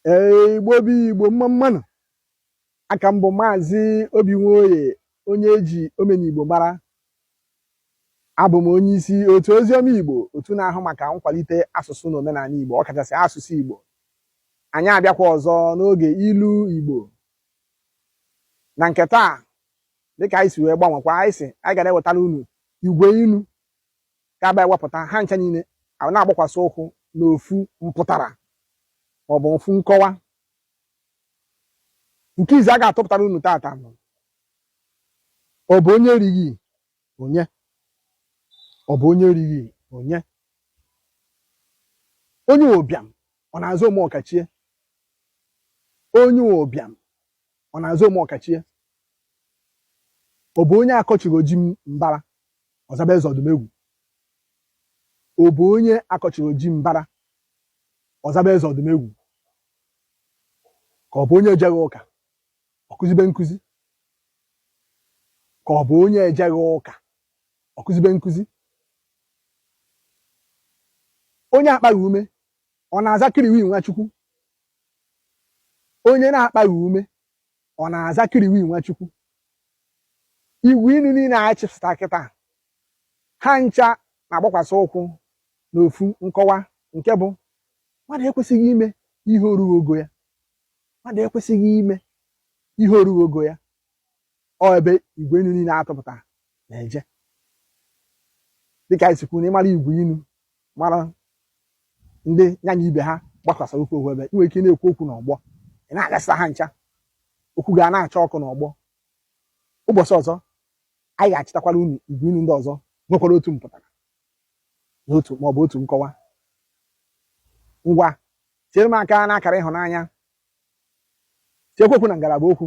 Ee, Igbo bụ Igbo mma mma nụ aka m bụ maazị Obi Nwoye onye eji omenigbo mara abụ m onye isi otu oziọma Igbo otu na-ahụ maka nkwalite asụsụ na omenala Igbo ọkachasị asụsụ Igbo anyị abịakwa ọzọ n'oge ilu Igbo na nke taa dịka anyị si wee gbanwekwa anyị sị anyị ga na-ewetara unu igwe inu ga-abịa wepụta ha ncha niile a na-agbakwasị ụkwụ n'ofu mpụtara maọbụ ofu nkọwa nke izi a ga-atụpụtara unu tata bụ ọ bụ onye erighị onye ọ bụ onye erighị onye onye ụbịam ọ na-aza omeọkachie onye ụbịam ọ na-aza omeọkachie ọ bụ onye akọchiri ji mbara ọ zaba eze Ọdụmegwu ọ bụ onye akọchiri ji mbara ọ zaba eze Ọdụmegwu ka ọ bụ onye ejeghị ụka ọ kụzibe nkụzi ka ọ bụ onye ejeghị ụka ọ kụzibe nkụzi onye akpaghị ume ọ na-aza Killiwe Nwachukwu onye na-akpaghị ume ọ na-aza Killiwe Nwachukwu igwe inu niile a chịpụta kịta ha ncha na-agbakwasị ụkwụ n'ofu nkọwa nke bụ mmadụ ekwesịghị ime ihe orughị ogo ya mmadụ ekwesịghị ime ihe orughị ogo ya ọ ebe igwe inu niile a tụpụta na-eje dịka anyị si kwuo na ị mara igwe inu mara ndị ya na ibe ha gbakwasara ụkwụ ofu ebe i nwee ike na-ekwu okwu n'ọgbọ ị na-agasa ha ncha okwu ga na-acha ọkụ n'ọgbọ ụbọchị ọzọ anyị ga-achịtakwara unu igwe inu ndị ọzọ nwekwara otu mpụtara na otu ma ọ bụ otu nkọwa ngwa tiere m aka n'akara ịhụnanya tiekwa okwu na ngalaba okwu